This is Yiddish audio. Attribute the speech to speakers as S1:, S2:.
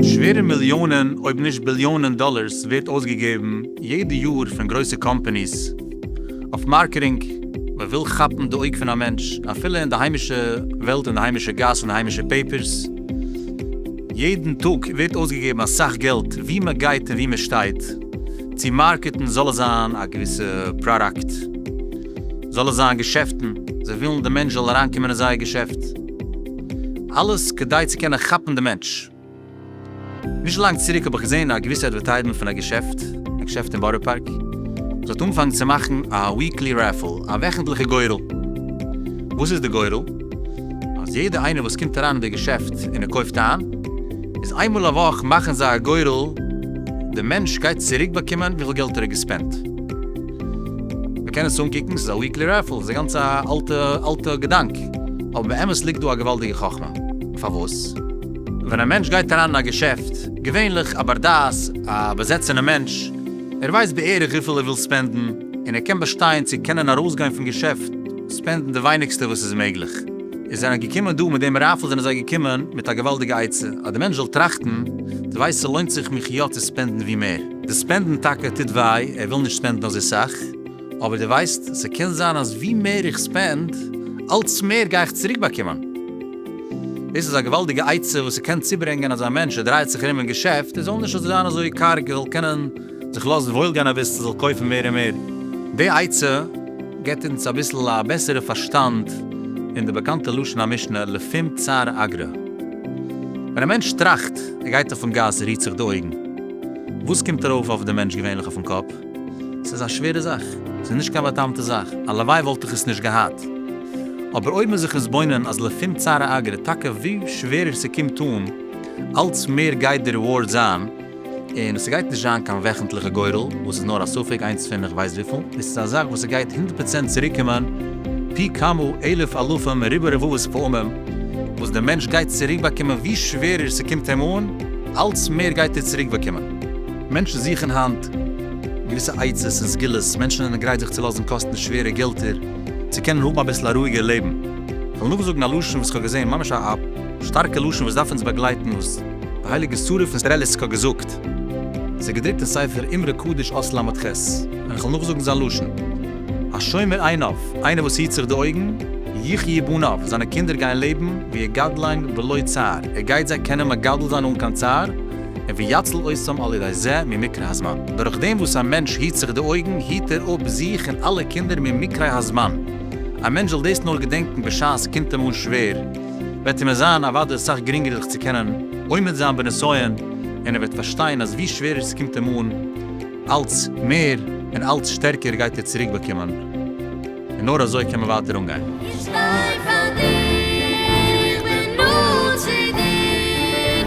S1: שווערע מיליאנען אויב נישט ביליאנען דאלערס ווערט אויסגעגעבן יעדע יאר פון גרויסע קאמפאניס אויף מארקעטינג, מען וויל כאפן די אויג פון א מענטש אפילו אין די היימישע וועלט אין די היימישע גאס אין היימישע פעיפערס. יעדן טאג ווערט אויסגעגעבן אסאך געלט ווי מען גייט און ווי מען שטייט, צו מארקעטן זאל עס זיין א געוויסע פראדאקט, זאל עס זיין געשעפטן, זיי ווילן די מענטש זאל אריינקומען אין זייער געשעפט, אלעס כדי צו קענען כאפן די מענטש. נישט לאנג צוריק האב איך געזען א געוויסע אדווערטייזמענט פון א געשעפט, א געשעפט אין בארא פארק, וואס האט אנגעפאנגן צו מאכן א וויקלי רעפעל, א וועכנטליכע גורל. וואס איז די גורל? אז יעדע איינער וואס קומט אריין אין די געשעפט און ער קויפט איין איז איינמאל א וואך מאכן זיי א גורל די מענטש גייט צוריק באקומען וויפיל געלט ער האט געספענט מען קען עס אנקוקן ס'איז א וויקלי רעפעל ס'איז א גאנצע אלטע אלטע געדאנק אבער באמת ליגט דא א געוואלדיגע חכמה פארוואס ווען א מענטש גייט אריין אין א געשעפט געווענליך א בר דעת א באזעצענע מענטש ער ווייסט בערך וויפיל ער וויל ספענדן און ער קען באשטיין צו קענען ארויסגיין פון געשעפט ספענדן די ווייניגסטע וואס איז מעגליך. איז זענען געקומען דא מיט דעם רייפל זענען זיי געקומען מיט א געוואלדיגע עצה אז די מענטש זאל טראכטן, די ווייסט ס'לוינט זיך מיך יא צו ספענדן ווי מער. די ספענדן טאקע טוט וויי, ער וויל נישט ספענדן אזוי סאך, אבער די ווייסט ס'קען זיין אז ווי מער איך ספענד, אלץ מער גיי איך צוריק באקומען. דאס איז א געוואלדיגע עצה וואס ס'קען צוברענגען אז א מענטש ער דרייעט זיך ארום אין געשעפט, ער זאל נישט זיין אזוי קארג, ער זאל קענען זיך לאזן וואויל גיין אביסל זאל קויפן מער און מער. די עצה געבט אונז אביסל א בעסערע פארשטאנד אין די באקאנטע לשון המשנה לפום צר אגרא. ווען א מענטש טראכט, ער גייט אויפן גאס, רוהט זיך די אויגן. וואס קומט ארויף אויף די מענטש געווענליך אויפן קאפ? ס'איז א שווערע זאך. ס'איז נישט קיין בא'טעמ'טע זאך. הלוואי וואלט איך עס נישט געהאט. אבער אויב מ'איז זיך מתבונן אז לפום צר אגרא טאקע ווי שווערער ס'קומט אן, אלץ מער גייט די ריווארד זיין. און ס'גייט נישט זיין קיין וועכנטליכע גורל, וואס איז נאר א ספק איינס פון איך ווייס וויפיל, דאס איז א זאך וואס ס'גייט הונדערט פראצענט צוריקומען פי כמה אלף אלפים מריבוא רבבות פעמים, וואס דער מענטש גייט צוריקבאקומען ווי שווערער ס'קומט אים אן, אלץ מער גייט ער צוריקבאקומען. מענטשן זוכן היינט געוויסע עצות און סגולות, מענטשן זענען גרייט זיך צו לאזן קאסטן שווערע געלטער, צו קענען האבן אביסל א רואיגער לעבן. כ'וועל נאכזאגן א לשון וואס כ'האב געזען, ממש א. שטארקע לשון וואס דארף אונז באגלייטן וואס די הייליגע שרה פון סטרעליסק האט געזאגט. ס'איז געדרוקט אין ספר אמרי קדוש אות ל' ח, און כ'וועל נאכזאגן זיין לשון. השומר עיניו, איינער וואס היט זיך די אויגן, יחיו בניו, זיינע קינדער גייען לעבן, ויגדלן בלא צער, ער גייט זיי קענען מגדל זיין אן קיין צער, און ויצל אותם על ידי זה ממקרי הזמן. דורך דעם וואס א מענטש היט זיך די אויגן, היט ער אפ זיך און אלע קינדער ממקרי הזמן. א מענטש זאל דאס נאר געדענקן בשעת ס'קומט אים אן שווער. וועט אים עס זיין אוודאי אסאך גרינגער זיך צו קענען עומד זיין בנסיון, און ער וועט פארשטיין אז ווי שווערער עס קומט אים אן, אלץ מער און אלץ שטערקער גייט ער צוריק באקומען, און נאר אזוי קען מען ווייטער אנגיין. איך שטיי
S2: פאר דיר, בין נאנט צו דיר,